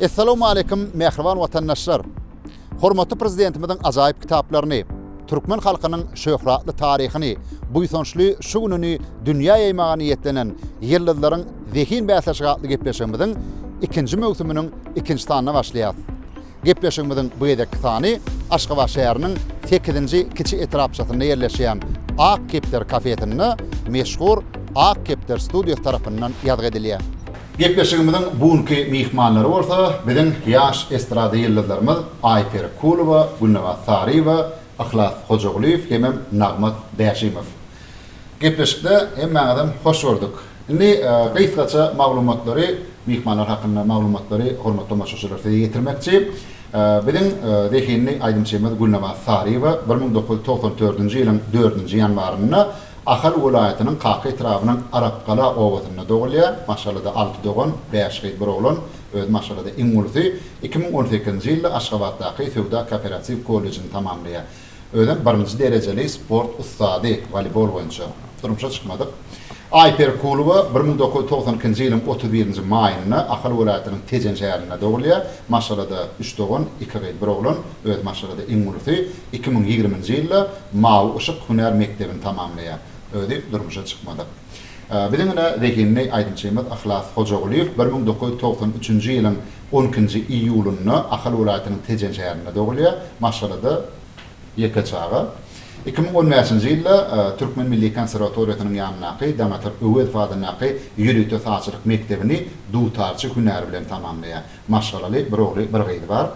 Essalawmaleýkim mähriban watandaşlar! Hormatly Prezidentimiziň ajaýyp kitaplaryny, türkmen halkynyň şöhratly taryhyny, buýsançly şu gününi dünýä ýaýmaga niýetlenen Ýyldyzlaryň zehin bäsleşigi atly gepleşigimiziň ikinji möwsüminiň ikinji sanyna başlaýarys. Gepleşigimiziň bu gezekki sany Aşgabat şäheriniň sekizinji kiçi etrapçasynda ýerleşýän Ak kepder kafesinde meşhur Ak kepder studiýasy tarapyndan ýazgy edilýär. Gepleşigimiziň bu günki myhmanlary bolsa biziň ýaş estrada ýyldyzlarymyz Aýperi Kulowa, Gülnabat Saryýewa, Yhlas Hojagulyýew hemem Nagmat Bäşimow. Gepleşikde hemmäňizem hoş gördük. Indi gysgaça maglumatlary, myhmanlar hakynda maglumatlary hormatly tomaşaçylar size ýetirmekçi. Biziň zehinli aýdymçymyz Gülnabat Saryýewa bir müň dokuz ýüz togsan dördünji ýylyň dördünji ýanwarynda Ahal welaýatynyň Kaka etrabynyň Arapgala obasynda dogulýar. Maşgalada alty dogan, bäş gyz, bir oglan. Özi maşgalada iň ulusy. Iki müň on sekizinji ýylda Aşgabatdaky Söwda-kooperatiw kollejini tamamlaýar. Özem birinji derejeli sport ussady, woleýbol boýunça. Durmuşa çykmadyk. Aýperi Kulowa bir müň dokuz ýüz togsan ikinji ýylyň otuz birinji maýynda Ahal welaýatynyň Tejen şäherinde dogulýar. Maşgalada üç dogan, iki gyz, bir oglan. Özi maşgalada iň ulusy. Iki müň ýigriminji ýylda Mawy yşyk hünär mekdebini tamamlaýar. Özi durmuşa çykmadyk. Biziň ine zehinli aýdymçymyz Yhlas Hojagulyýew bir müň dokuz ýüz togsan üçünji ýylyň on ikinji iýulynda Ahal welaýatynyň Tejen şäherinde dogulýar. Maşgalada ýeke çaga. Iki müň on bäşinji ýylda Türkmen milli konserwatoriýasynyň ýanyndaky Daňatar Öwezow adyndaky ýörite sazçylyk mekdebini dutarçy hünäri bilen tamamlaýar. Maşgalaly, bir ogly, bir gyzy bar.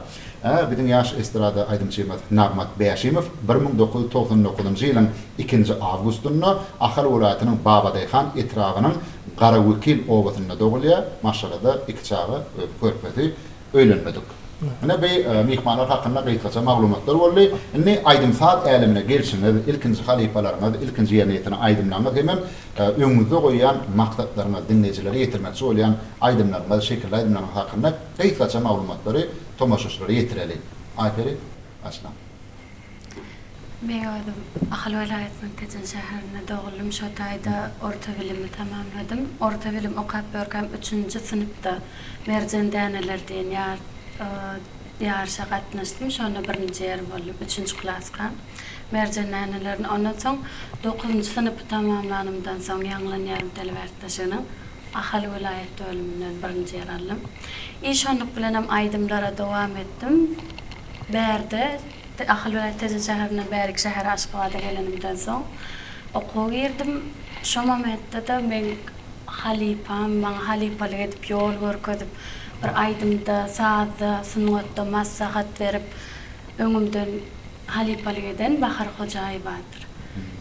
Ä, biziň ýaş estrada aýdymçymyz Nagmat Bäşimow bir müň dokuz ýüz togsan dokuzynjy ýylyň ikinji awgustynda Ahal welaýatynyň Babadaýhan etrabynyň Garawekil obasynda dogulýar. Maşgalada iki çaga, özi körpesi, öýlenmedik. Ine, bi myhmanlar hakynda gysgaça maglumatlar boldy. Indi aýdym-saz älemine gelşiňiz, ilkinji halypalaryňyz, ilkinji ýerine ýetiren aýdymlaryňyz hemem Öňüňizde goýýan maksatlaryňyz, diňleýjilere ýetirmekçi bolýan aýdymlaryňyz, şekilli aýdymlaryňyz hakynda gysgaça maglumatlary tomaşaçylara ýetireli. Aýperi, başla. Meň özüm Ahal welaýatynyň Tejen şäherinde doguldym. Şo taýda orta bilimi tamamladym. Orta bilim okap ýörkäm üçünji synpda Merjen däneleri diýen ýaryşa gatnaşdym. Şonda birinji ýer boldum. Üçünji klaskam. Merjen nälerini ondan soň dokuzynjy synpy tamamlanymdan soň ýaňlan ýarym telebärtdaşynyň Ahal welaýat bölüminden birinji ýer aldym. I şonluk bilenem aýdymlara dowam etdim. Bärde Ahal welaýat Tejen şäherinden bäriki şähere Aşgabada gelenimden soň okuwa girdim. Şo momentde-de meň halypam maňa halypalyk edip ýol görkezip bir aýdymda sazda sungatda massahat berip öňümden halypalyk eden Bahar Hojaýewadyr.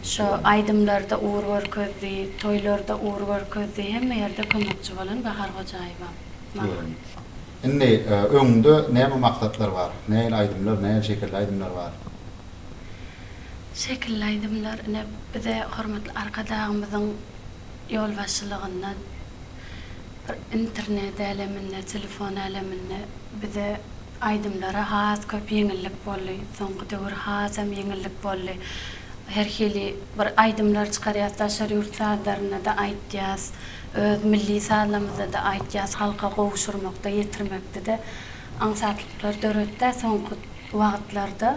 Şo aýdymlarda ugur görkezdi, toýlarda ugur görkezdi, hemme ýerde kömekçi bolan Bahar Hojaýewa maňa. Indi öňüňde näme maksatlar bar? Nähili aýdymlar, nähili şekilli aýdymlar bar? Şekilli aýdymlar ine bize hormatly Arkadagymyzyň ýolbaşçylygynda bir internet äleminde, telefon äleminde bize Aýdymlary has köp ýeňillik boldy. Soňky döwür hasam ýeňillik boldy. Her hili bir aýdymlar çykarýas, daşary ýurt sazlarynda-da aýtýas, öz milli sazlarymyzda-da aýtýas, halka gowşurmakda, ýetirmekde-de aňsatlyklar döretdä soňky wagtlarda.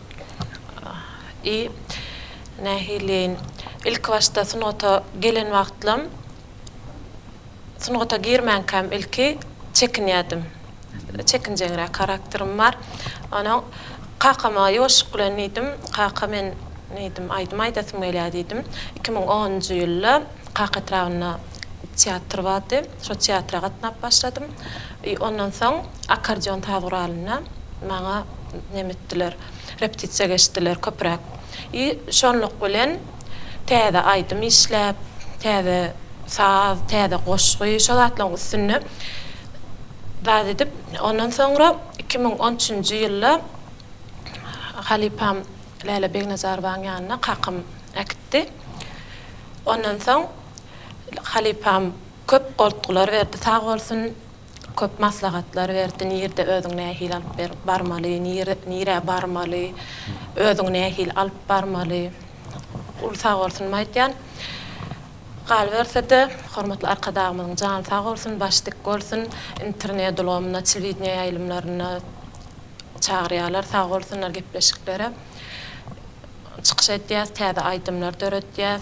I. Nähiliýeýin? Ilkibaşda sungata gelen wagtlam, sungata girmänkäm ilki çekinýärdim. Çekinjeňräk harakterim bar. Onsoň kakama ýuwaşlyk bilen diýdim, Kaka, men diýdim, aýdym aýdasym gelýär diýdim. Iki müň onunjy ýylda Kaka etrabynda teatr bardy. Şo teatra gatnap başladym. I ondan soň akkordeon saz guralynda maňa neme etdiler, repetisiýa geçdiler köpräk. I şonluk bilen täze aýdym işläp, täze saz, täze goşgy, şo zatlaryň üstünde zat edip, ondan soňra iki müň on üçünji ýylda halypam Läle Begnazarowaň ýanyna kakam äkitdi. Ondan soň Halypam köp goltgular berdi sag bolsun, köp maslahatlar berdi, nirde özüňi nähili alyp berip barmaly, nirä barmaly, özüňi nähili alyp barmaly, uly sag bolsun aýtýan. Galyberse-de, hormatly Arkadagymyzyň jany sag bolsun, başy dik bolsun, internet ulgamyna, telewideniýe ýaýlymlaryna çagyrýarlar, sag bolsunlar, gepleşiklere çykyş edýär, täze aýdymlar döredýär.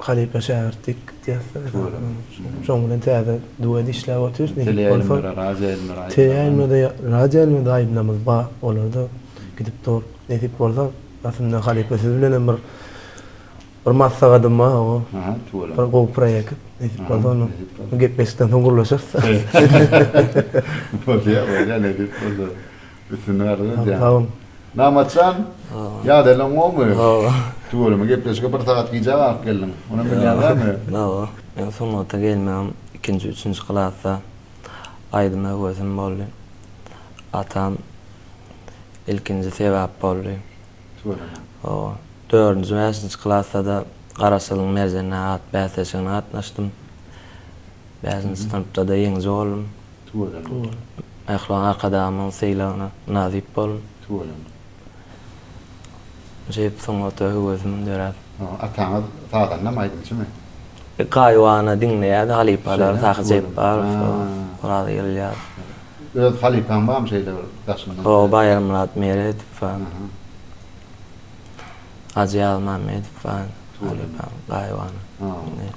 Halypa şägirt dik gitýäsler. Şoň bilen täze duet işläp otyrys nesip bolsa. Teleýaýlymda-da radioýaýlymda-da aýdymlarymyz bar. Olar-da gidip dur. Nesip bolsa aslynda halypa siz bilenem bir bir maslahatym bar o bir gowy proýekt nesip bolsa ony bu gepleşikden soň gürleşeris. Bolýar bolýar nesip bolsa. Üstünlik arzuw edýän. Sag bol. Namatjan, ýadalaň gowymy? Gowy. Tüweleme gepleşige bir sagat gijä galyp geldiň. Muny bilýäňdämi? Gowy. Men sungata gelmegim ikinji, üçünji klasda aýdyma höwesim boldy. Atam ilkinji sebäp boldy. Tüweleme. Gowy. Dördünji, bäşinji klasda-da Garaşsyzlygyň merjenine at bäsleşigine gatnaşdym. Bäşinji synpda-da ýeňiji boldum. Tüweleme bol. Pälwan Arkadagymyň sylagyna nasyp bol. Tüweleme. Jep sungata höwesimin döräp. Ataňyz sazandamy, aýdymçymy? Gaýybana diňleýädi halypalar Sahy Jepbarow, Oraz Ýylýazow. Öz halypaň barmy şeýle bir daşyndan? Hoo Baýarmyrat Meredow bar. Hajy Ýazmammedow bar. Gaýybana diňleýän.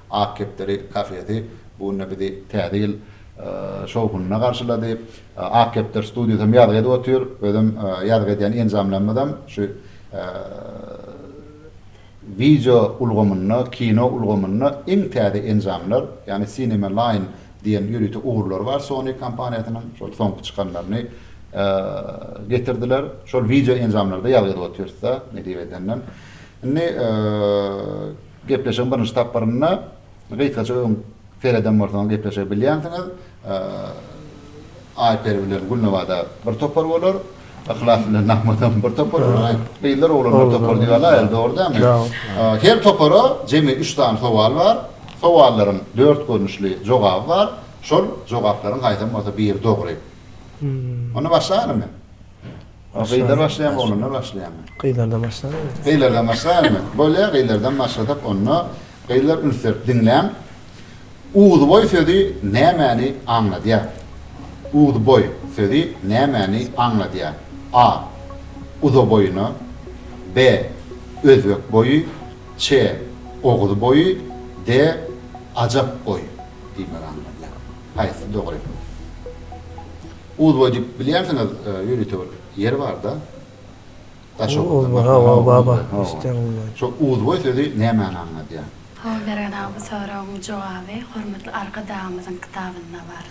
Ak kepderi kafesi bu günde bizi Täze ýyl şowhunynda garşylady. Ak kepder studiýasam ýazgy edip otyr. Özem ýazgy edýän enjamlarymyzam şu wideo ulgamynda, kino ulgamynda iň täze enjamlar, ýagny Cinema Line diýen ýörite ugurlary bar Sony kompaniýasynyň, şol soňky çykanlaryny getirdiler. Şol wideo enjamlarda ýazgy edip otyrys-da, ne diýip edenden. Indi Gepleşigiň birinji tapgyrynda gysgaça öň sereden bolsaňyz gepleşigi bilýänsiňiz. Aýperi bilen Gülnawada bir topar bolar. Yhlas bilen Nahmadam bir topar bolar. Gyzlar oglan bir topar diýip alaýaly dogry dälmi? Her topara jemi üç sany sowal bar. Sowallaryň dört görnüşli jogaby bar. Şol jogaplaryň haýsam bolsa biri dogry. Onda başlaýalymy? Gyzlar başlaýarmy, oglanlar başlaýarmy? Gyzlardan başlaýarmy? Gyzlardan başlaýarmy? Bolýar, gyzlardan başlasak onda. Gyzlar üns berip diňläň. Uzboý sözi nämäni aňladýar? Uzboý sözi nämäni aňladýar? A. Uzaboýuna. B. Özbek boýy. C. Oguz boýy. D. Ajap boýy diýmegi aňladýar. Haýsy dogry? Uzba diyip bilýärsiňiz ýörite bir ýer barda daşoguzda hawa baba isden uzba şo uzba sözi nämäni aňladýar. Saol bergen aga bu soragyň jogaby hormatly arkadagymyzyň kitabynda bar.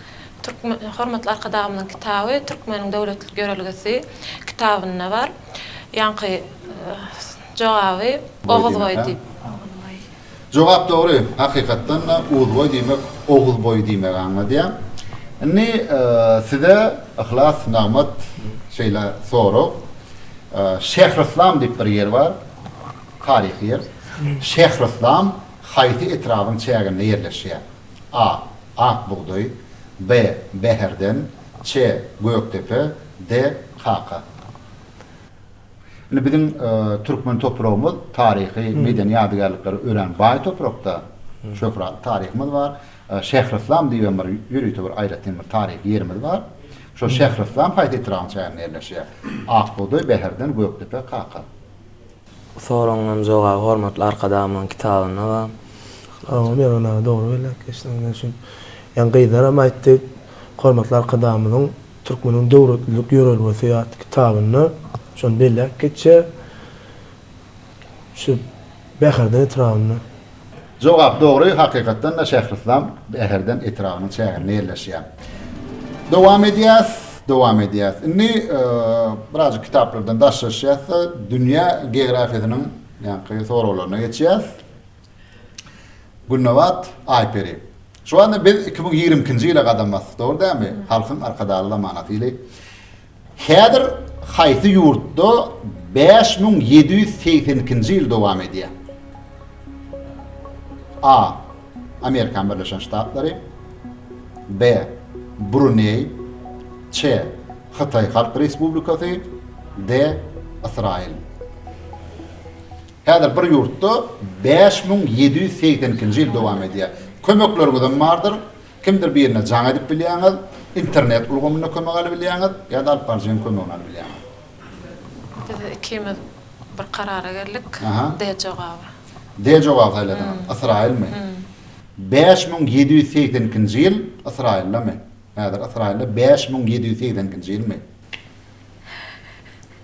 Türkmen hormatly arkadagymyzyň kitaby türkmeniň döwletlik ýörelgesi kitabynda bar. Ýaňky jogaby oguzboý diýip. Oguzboý. Jogap dogry, hakykatdan-da Uzboý diýmek Oguzboý diýmegi aňladýar. Indi size Yhlas Nagmat şeýle sorag. Şähryslam diýip bir ýer bar, taryhy ýer. Şähryslam haýsy etrabyň çäginde ýerleşýär? A. Ak bugdaý B. Bäherden C. Gökdepe D. Kaka. Indi biziň türkmen topragymyz taryhy, medeni ýadygärliklere örän baý toprakda, şöhratly taryhymyz bar. Şähryslam diýibem bir ýörite bir aýratyn bir taryhy ýerimiz bar. Şol Şähryslam haýsy etrabyň çäginde ýerleşýär? Ak bugdaý, Bäherden, Gökdepe, Kaka. Soragyňyň jogaby hormatly Arkadagymyzyň kitabynda bar. Sag bol Mehman aga dogry belläp geçdiň. Ýöne şu ýan gyzlaram aýtdy, hormatly Arkadagymyzyň Türkmeniň döwletlilik ýörelgesi atly kitabynda şony belläp geçýär. Şu Bäherden etrabynda. Jogap dogry, hakykatdan-da Şähryslam Bäherden etrabynyň çäginde ýerleşýär. Dowam edýäs, dowam edýäs. Indi birazajyk kitaplardan daşlaşýas-da, dünýä geografiýasynyň ýaňky soraglaryna geçýäs. Gülnabat, Aýperi. Şu wagtda biz iki müň ýigrimi ikinji ýyla gadam basdyk, dogry dälmi? Halkyň Arkadagly zamanasy ýyly. Häzir haýsy ýurtda bäş müň ýedi ýüz segsen ikinji ýyl dowam edýär? A. Amerikan Birleşen Ştatlary. B. Bruneý. Ç. Hytaý Halk Respublikasy. D. Ysraýyl. Häzir bir ýurtda bäş müň ýedi ýüz segsen ikinji ýyl dowam edýär. Kömekleriňizem bardyr, kimdir birine jaň edip bilýäňiz, internet ulgamynda kömek aly bilýäňiz ýa-da alyp baryjynyň kömegini aly bilýäňiz. Biz ikimiz bir karara geldik, D jogaby. D jogaby saýladyňyz, Ysraýylmy? Bäş müň ýedi ýüz segsen ikinji ýyl Ysraýyldamy? Häzir Ysraýylda bäş müň ýedi ýüz segsen ikinji ýylmy?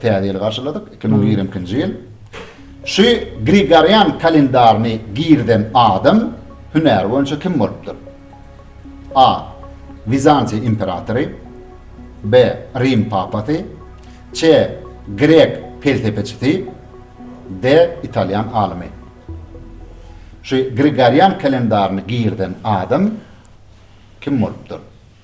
Täze ýyly garşyladyk, iki müň ýigrimi ikinji ýyl. Şu Grigorian kalendaryny girizen adam hünäri boýunça kim bolupdyr? A. Wizantiýa imperatory. B. Rim papasy. C. Grek pelsepeçisi. D. Italýan alymy. Şu Grigorian kalendaryny girizen adam kim bolupdyr?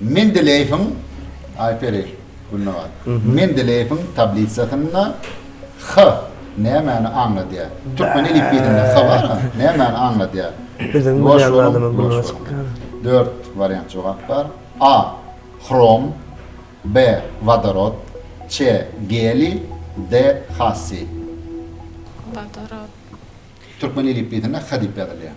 Mendeleýewiň, Aýperi, Gülnabat, Mendeleýewiň tablisasynda H nämäni aňladýar? Türkmen elipbiýinde H bar, a nämäni aňladýar? Biziň bilýän adamyň gulagy çykýar. Dört wariant jogap bar. A. Hrom B. Wodorod C. Geliý D. Hasiý. Wodorod. Türkmen elipbiýinde H diýip ýazylýar.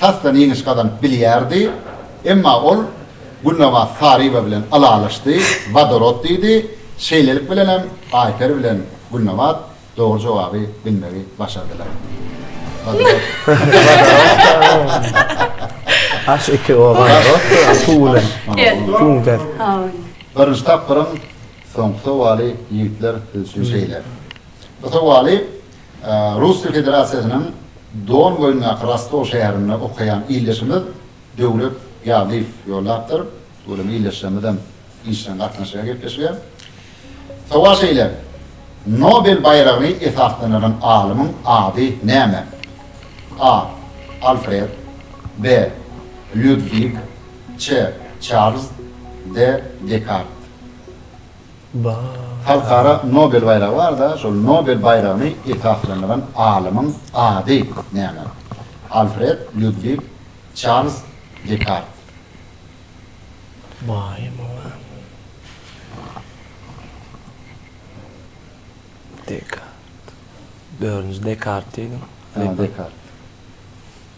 tasdan ýeňiş gazanyp bilýärdi, emma ol Gülnabat Saryýewa bilen ylalaşdy, wodorod diýdi, şeýlelik bilenem Aýperi bilen Gülnabat dogry jogaby bilmegi başardylar. Wodorod. Aş iki wodorod suw bilen süňder. Birinji tapgyryň soňky sowaly ýigitler siz üçin şeýle. Bu sowaly Russiýa Federasiýasynyň Don boýundaky Rostow şäherinde okaýan ildeşimiz Döwlet Ýazlyýew ýollapdyr. Welin ildeşlerimizem işjeň gatnaşýar gepleşige. Sowal şeýle, Nobel baýragyny esaslandyran alymyň ady näme? A. Alfred. B. Lýudwig. C. Çarlz. D. Dekart. Halkara Nobel baýragy bar-da, şol Nobel baýragyny esaslandyran alymyň ady näme? Alfred Lýudwig Çarlz Dekart. Maýa muňa Dekart. Dördünji Dekart diýdim. Ýa Dekart.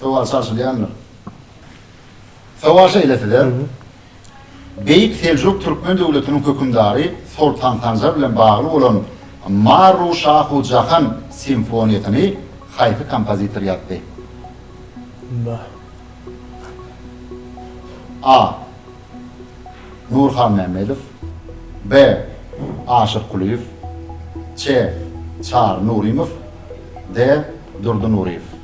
Sowal çalşylýandyr. Sowal şeýle size, Beýik Seljuk Türkmen döwletiniň hökümdary Soltan Sanjar bilen bagly bolan Marru Şahu Jahan simfoniýasyny haýsy kompozitor ýazdy? A. Nur Halmämmedow B. Aşyr Kulyýew C. Çary Nurymow D. Durdy Nuryýew.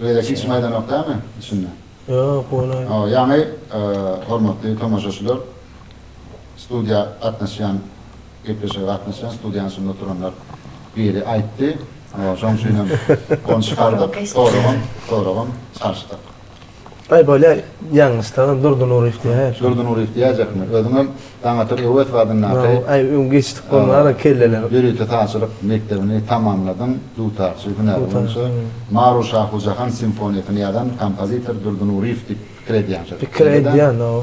Beýle hiç maýdanok dämi içinde? Ýok bolay. Ýagny hormatly tomaşaçylar studiýa gatnaşýan gepleşige gatnaşýan studiýanyň içinde oturanlar biri aýtdy. Şoň üçinem ony çykardyk soragam soragam çalyşdyk. Aý bolýa ýalňyşdagam Durdy Nuryýew diýäýip. Durdy Nuryýew diýäýjekmi? Özüňem Daňatar Öwezow adyndaky. Maňa aý öň geçdik bolmara kelleler. Ýörite sazçylyk mekdebini tamamladyň, dutarçy hünäri boýunça. Maru Şahu Jahan simfoniýasyny ýazan kompozitor Durdy Nuryýew diýip pikir edýän şol. Pikir edýän, hawa.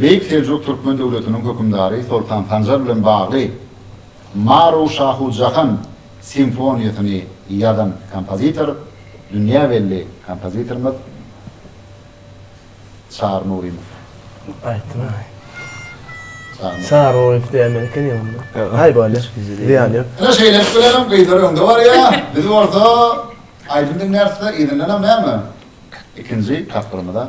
Beýik Seljuk Türkmen döwletiniň hökümdary Soltan Sanjar bilen bagly Maru Şahu Jahan simfoniýasyny ýazan kompozitor, dünýä belli kompozitorymyz Çary Nurymow. Aýtdyň aý. Çary Nurymow diýäýmeli ekeniň onda. Aý bolýa, zyýan ýok. Ine şeýlelik bilenem gyzlar öňde barýa, biz bolsa aýdym diňläris-de, yzyndanam näme, ikinji tapgyrymyza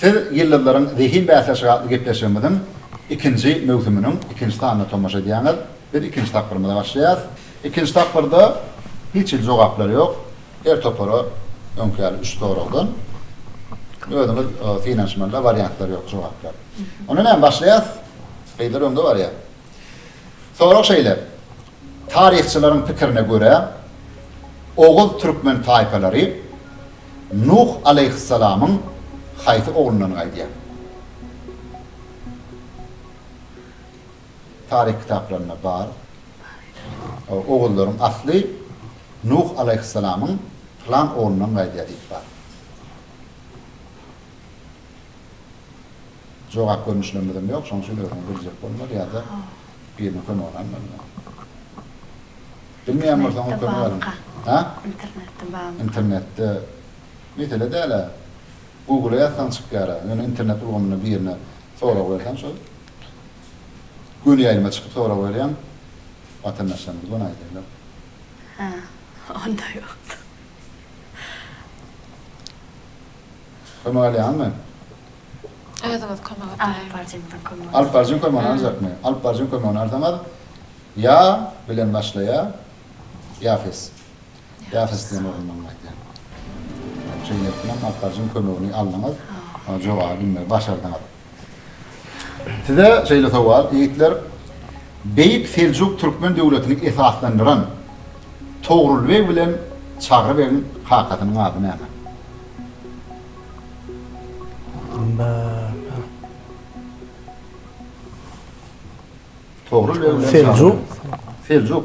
Siz Ýyldyzlaryň zehin bäsleşigi atly gepleşigimiziň ikinji möwsüminiň ikinji sanyna tomaşa edýäňiz. Biz ikinji tapgyrymyza başlaýarys. Ikinji tapgyrda hiç hili jogaplar ýok. Her topara öňki ýaly üç soragdan. Özüňiz synanyşmaly-da, wariantlar ýok, jogaplar. Onda näme, başlaýarys? Gyzlar öňde barýar. Sorag şeýle, Taryhçylaryň pikirine görä, oguz türkmen taýpalary Nuh alaýhyssalamyň haýsy oglundan gaýdýar? Taryh kitaplarynda bar. Oguzlaryň asly Nuh alaýhyssalamyň pylan oglundan gaýdýar diýip bar. Jogap görnüşlemizem ýok, şonuň üçin özüňe biljek bolmaly ýa-da biriniň kömegini almaly ýaly. Bilmeýän bolsaňyz kömek alyň. Hä? Internetde barmy? Internetde. Mesele däl-ä. Google-a ýazsaň çykýar-a. Ýöne internet ulgamynda birine sorag berseň şol göni ýaýlyma çykyp sorag berýäň, watandaşlarymyz bolan aýdaýlar. Hä, onda ýokdur. Çykymy alýaňmy? Özüňiz kömek etmäýiňiz. Alyp barjyň kömegini aljakmy? Alyp barjyň kömegini alsaňyz, ýa bilen başlaýar, Ýafes. Ýafes diýen orundan gaýdýar. Şeýle etseňem, alyp barjyň kömegini aldyňyz, jogaby bilmeli, başardyňyz. Size şeýle sowal, ýigitler, Beýik Seljuk türkmen döwletini esaslandyran Togrul beg bilen Çagry begiň kakasynyň ady näme? Togrul beg bilen Çagry beg. Seljuk. Seljuk.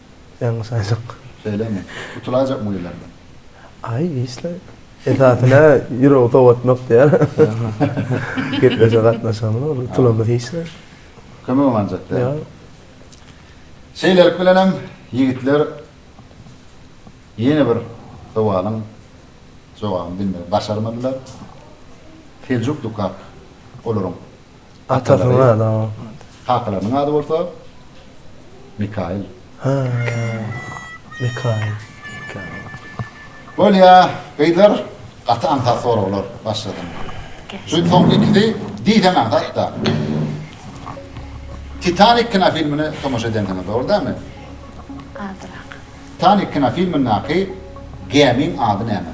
Ýaňy saýdyk. Şeýlemi? Gutulaýjakmy gyzlardan? Aý, işle. Esasy-ne, ýüregi sowatmak diýýär. Gepleşige gatnaşamyz ol. Tulamyz hiç zat. Kömegem aljak däl. Ýok. Şeýlelik bilenem, ýigitler ýene bir sowalyň jogabyny bilmegi başarmadylar. Seljuk Dukak olaryň. Atasynyň ady ha. Kakalarynyň ady bolsa Mikail. Ha. Mikail. Bolýa, gyzlar gaty aňsat soraglar başladyň. Şu soňky ikisi diýseň aňsat-da. Titanik kinofilmine tomaşa edensiňiz, dogry dälmi? Azrak. Titanik kinofilmindäki gämiň ady näme?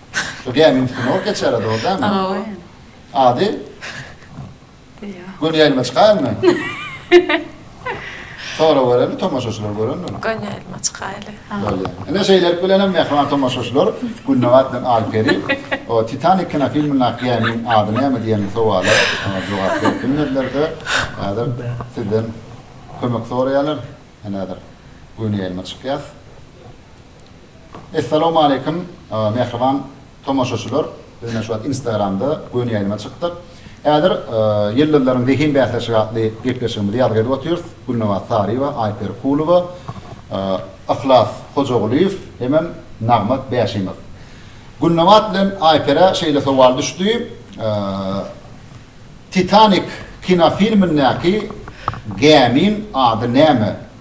Şu gämiň üstüne ot geçýärä dogry dämi? Hawa. Ady? Göni ýaýlyma çykaýylmy? Sorag bereli tomaşaçylar görendir. Göni ýaýlyma çykaýyly. Bolýar. Ine şeýlelik bilenem mähriban tomaşaçylar Gülnabat bilen Alyperi o Titanik kinofilmindäki gämiň ady näme diýen sowala jogap berip bilmediler-de, häzir sizden kömek soraýarlar. Ine häzir göni ýaýlyma çykýas. Essalawmaleýkim mähriban tomaşaçylar biz ine şu wagt instagramda göni ýaýlyma çykdyk häzir ýyldyzlaryň zehin bäsleşigi atly gepleşigimizi ýazgy edip otyrys Gülnabat Saryýewa Aýperi Kulowa Yhlas Hojagulyýew hemem Nagmat Bäşimow Gülnabat bilen Aýperä şeýle sowal düşdi Titanik kinofilmindäki gämiň ady näme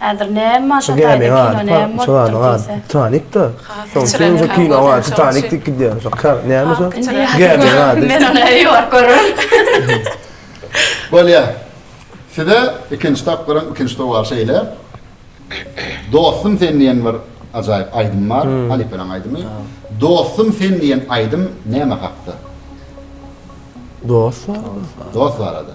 Häzir näme maşa taýda kino näme bolupdyr diýse. Titanikda. Titanik diýip gidýär. Şokar näme şo? Men ony ýok görübem. Bolýa. Size ikinji tapgyryň ikinji sowal şeýle. Dostum sen diýen bir ajaýyp aýdym bar. Halypalaň aýdymy. Dostum sen diýen aýdym näme hakda? Dost barada. Dost barada.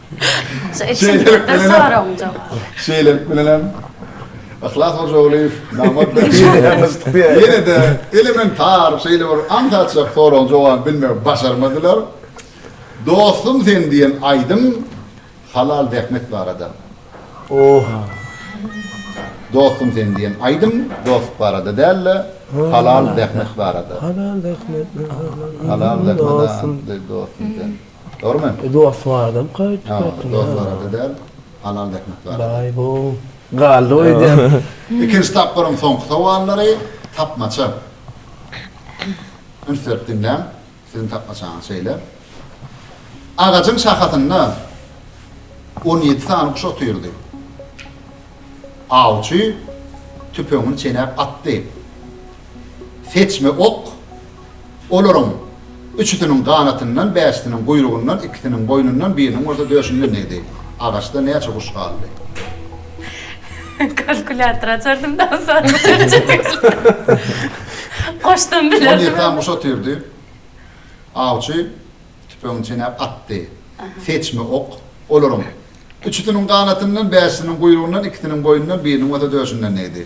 Şeýlelik bilenem. Şeýlelik bilenem. Yhlas Hojagulyýew nagmat berşi. Ýene-de elementar şeýle bir aňsatjak soragyň jogabyny bilmegi başarmadylar. Dostum sen diýen aýdym Halal zähmet barada. Oh. Dostum sen diýen aýdym dostluk barada däl-de, halal zähmet barada. Halal zähmet. Halal zähmet dostum sen. Dogrumy? Dost barada gaýyp çykypdyr. Dost barada däl, halal zähmet barada. Baý bu galdy goý diýen. Ikinji tapgyryň soňky sowallary tapmaça. Üns berip diňläň, siziň tapmaçaňyz şeýle. Agajyň şahasynda on ýedi sany guş otyrdy. Awçy tüpeňini çenäp atdy. Seçme ok olaryň üçüsiniň ganatyndan, bäşisiniň guýrugyndan, ikisiniň boýnundan, biriniň bolsa döşünden degdi. Agaçda näçe guş galdy? Kalkulýator açardym da aňsatly çözjekdim. Goşdam bilerdim. On ýedi sany guş otyrdy. Awçy tüpeňini çenäp atdy. Seçme ok olaryň üçüsiniň ganatyndan, bäşisiniň guýrugyndan, ikisiniň boýnundan, biriniň bolsa döşünden degdi.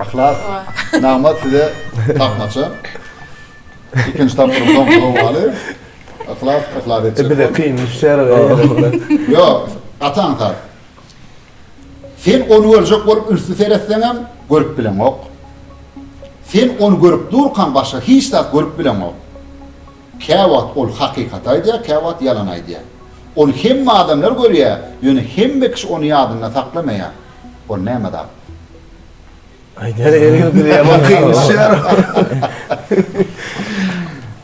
Yhlas nagmat size tapmaça. Ikinji tapgyryň soňky sowaly. Yhlas yhlas etjek. E bize kyn düşer. Ýok, gaty aňsat. Sen ony görjek bolup ünsli seretseňem görüp bileňok. Sen ony görüp durkaň başga hiç zat görüp bileňok. Käwagt ol hakykaty aýdýar, käwagt ýalan aýdýar. Ony hemme adamlar görýär, ýöne hemme kişi ony ýadynda saklamaýar. Ol näme zat?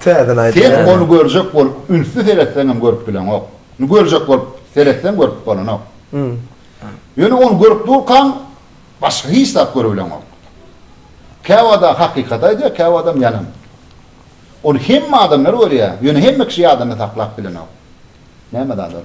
Sen ony görjek bolup ünsli seretseňem görüp bileňok. Görjek bolup seretseň görüp bolanok. Ýöne ony görüp durkaň başga hiç zat görübileňok. Käwada hakykaty aýdýar, käwadam ýalan. Ony hemme adamlar görýär, ýöne hemme kişi ýadynda saklap bilenok. Näme zat ol?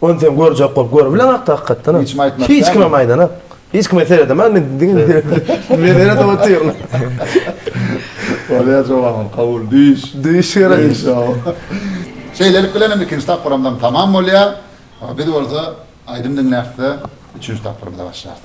Ony sen görjek bol, görübilen hakda hakykatdanam. Hiç kime aýtmak Hiç kime aýdan ak. Hiç kime seredemän men diňe seredip otyryn. Bolýar jogabym kabul düýş. Düýş gerek. Şeýlelik bilen hem ikinji tapgyram daň tamam bolýar. Biz bolsa aýdym diňläpde üçünji tapgyrymyza başlarys.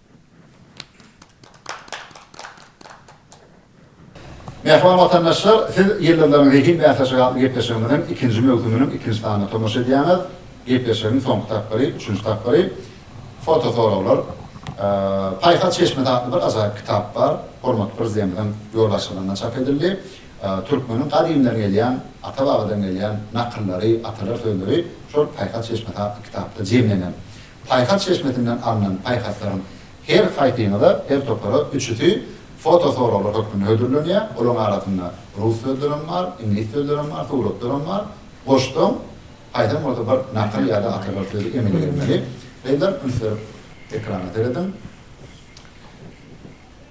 Mähriban watandaşlar, siz Ýyldyzlaryň zehin bäsleşigi atly gepleşigimiziň ikinji möwsüminiň ikinji sanyna tomaşa edýäňiz. Gepleşigiň soňky tapgyry, üçünji tapgyry, fotosoraglar. Paýhas çeşmesi atly bir ajaýyp kitap bar. Hormatly Prezidentimiziň ýolbaşçylygynda çap edildi. Türkmeniň gadymdan gelýän, ata-babadan gelýän nakyllary, atalar sözleri şol Paýhas çeşmesi atly kitapda jemlenen. Paýhas çeşmesinden alnan paýhaslaryň her haýsyňyza, her topara üçüsi fotosoraglar hökmünde hödürlenýär. Olaryň arasynda rus sözlerem bar, iňlis sözlerem bar, suratlaram bar. Goşsaň, haýsam bolsa bir nakyl ýa-da atalar sözi emele gelmeli. Gyzlar, üns berip ekrana serediň.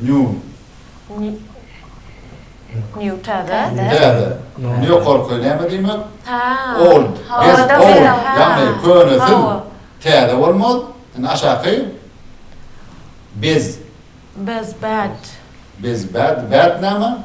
Nýu. Nýu. Nýu täze. Täze. Ýokarky näme diýmek? Old. Ýagny könesil täze bolmaz. Indi aşaky. Bez. Bez bad. Bez bad. Bad näme?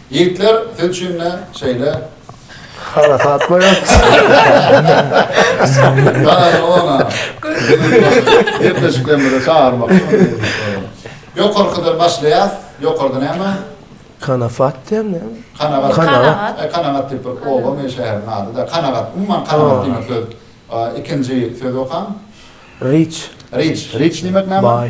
Ýigitler siz üçin ne şeýle. Harasat goýaň. Daýy ona gepleşiklerimize çagyrmak Ýokarkydan başlaýas. Ýokarda näme? Kanafat diýen näme? Kanagat. Kanagat. Kanagat diýip bir obamy, şäheriň ady-da. Kanagat. Umuman kanagat diýmek söz. Ikinji sözi okaň. Riç. Riç. Riç diýmek näme? Baý.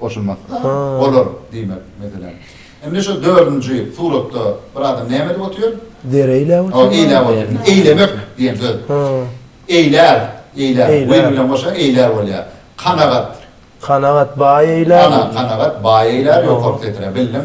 goşulmasyn. Olar diýmek, meselem. Indi şu dördünji suratda bir adam näme edip otyr? Deri eýläp otyr. Hoo, eýläp otyr. Eýlemek diýen söz. Hoo. Eýlär, eýlär. Eýlär. Win bilen goşsaň eýlär bolýar. Kanagat. Kanagat, baý eýlär. Ana, kanagat, baý eýlär, ýokarky setre bildiň.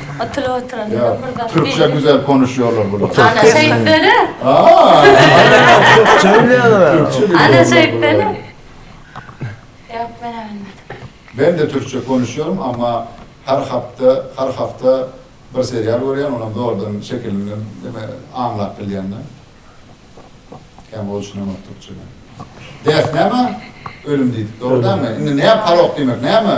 Oturyp oturan Ýok. bir zat. Türkçe güzel konuşýarlar bular. Ana şeýtdene. Aa. Türkçe bilýärler. Türkçe bilýärler. Ana şeýtdene. Ýok men bilmedim. Men de türkçe konuşýarym amma her hapta her hafta bir serial görýän onam zordan şekilinden deme aňlap bilýände. Kän gowy düşünemok türkçeden. Death näme? Ölüm diýdik dogry dälmi? Indi näme parok diýmek näme?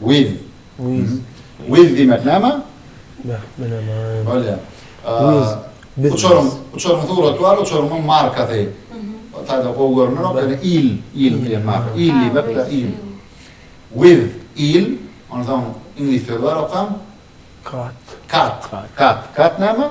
Wiz. Wiz. Wiz diýmek näme? Beh, bileman. Bolýar. Wiz. Uçaryň, uçaryň suraty bar, uçaryň markasy. Taýdan gowy görünerok, ýöne il, il diýen marka. Il diýmek de il. Wiz, il. Ondan soň iňlis sözi bar, okam. Kat. Kat. Kat. Kat näme?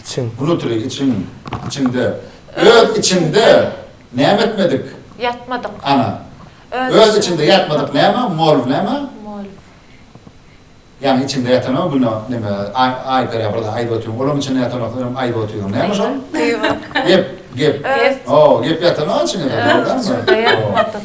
Içiň. Wnutri, içiň, içiňde. Öz içiňde näme etmedik? Ýatmadyk. Ana. Öz içiňde ýatmadyk näme? Molw näme? Molw. Ýagny içiňde ýatanok güno neme aý perýa birde aýdyp otyň olaň içinde ýatanok öňem aýdyp otyň näme şol? Gep gep. Gep. Gep ýatanok içiňde. Öz içiňde ýatmadyk.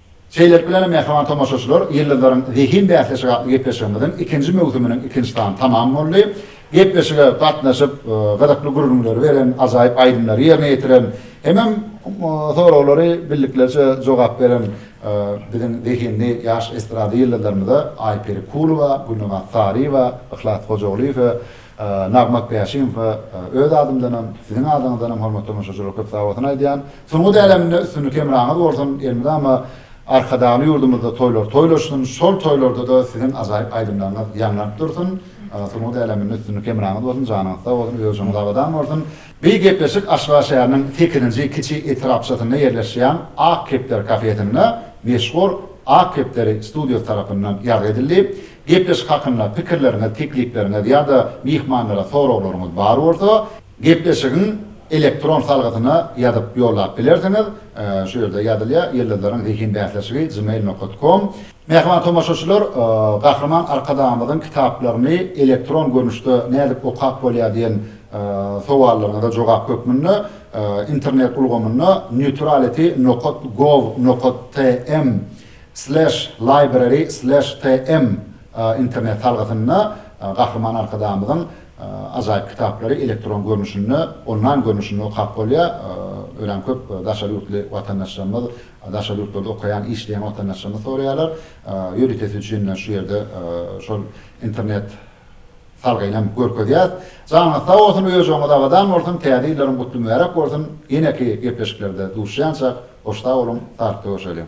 Şeýlelik bilen, mähriban tomaşaçylar, Ýyldyzlaryň zehin bäsleşigi atly gepleşigimiziň ikinji möwsüminiň ikinji sany tamam boldy. Gepleşige gatnaşyp, gyzykly gürrüňleri beren, ajaýyp aýdymlary ýerine ýetiren hemem soraglary bildiklerçe jogap beren biziň zehinli ýaş estrada ýyldyzlarymyza Aýperi Kulowa, Gülnabat Saryýewa, Yhlas Hojagulyýewe, Nagmak Bäşimowa öz adymdanam, siziň adyňyzdanam hormatly tomaşaçylar köp sag bolsun aýdýan. Sungat äleminde üstünlik hemraňyz bolsun elmydama Arkadagly ýurdumyzda toýlar toýlaşsyn şol toýlardada siziň ajaýyp aýdymlaryňyz ýaňlanyp dursun sungat äleminde üstünlik hemraňyz bolsun janyňyz sag bolsun özuňiz abadan bolsun. Bi gepleşik Aşgabat şäheriniň sekizinji kiçi etrapçasynda ýerleşýän Ak kepder kafesinde meşhur Ak kepderi studiýasy tarapyndan ýazgy edildi. Gepleşik hakynda pikirleriňiz, teklipleriňiz ýa-da myhmanlara soraglaryňyz bar bolsa, Gepleşigiň elektron salgysyna ýazyp ýollap bilersiňiz, şu ýerde ýazylýar, Ýyldyzlaryň zehin bäsleşigi gmail nokat kom. Mähriban tomaşaçylar, Gahryman Arkadagymyzyň kitaplaryny elektron görnüşde nädip okap bolýar diýen sowallaryňyza jogap hökmünde internet ulgamynda neutrality nokat gov nokat tm sleş library sleş tm internet salgysynda Gahryman Arkadagymyzyň Ajaýyp kitaplary elektron görnüşinde, onlaýn görnüşinde okap bolýar. Örän köp daşary ýurtly watandaşlarymyz, daşary ýurtlarda okaýan, işleýän watandaşlarymyz soraýarlar. Ýöritesi üçin şu ýerde şol internet salgyny hem görkezýäs. Janyňyz sag bolsun, öýjügiňiz abadan bolsun, Täze ýyllaryň gutly mübärek bolsun. Ýeneki gepleşiklerde duşýançak, hoş sag boluň, saglyk-da görşeliň!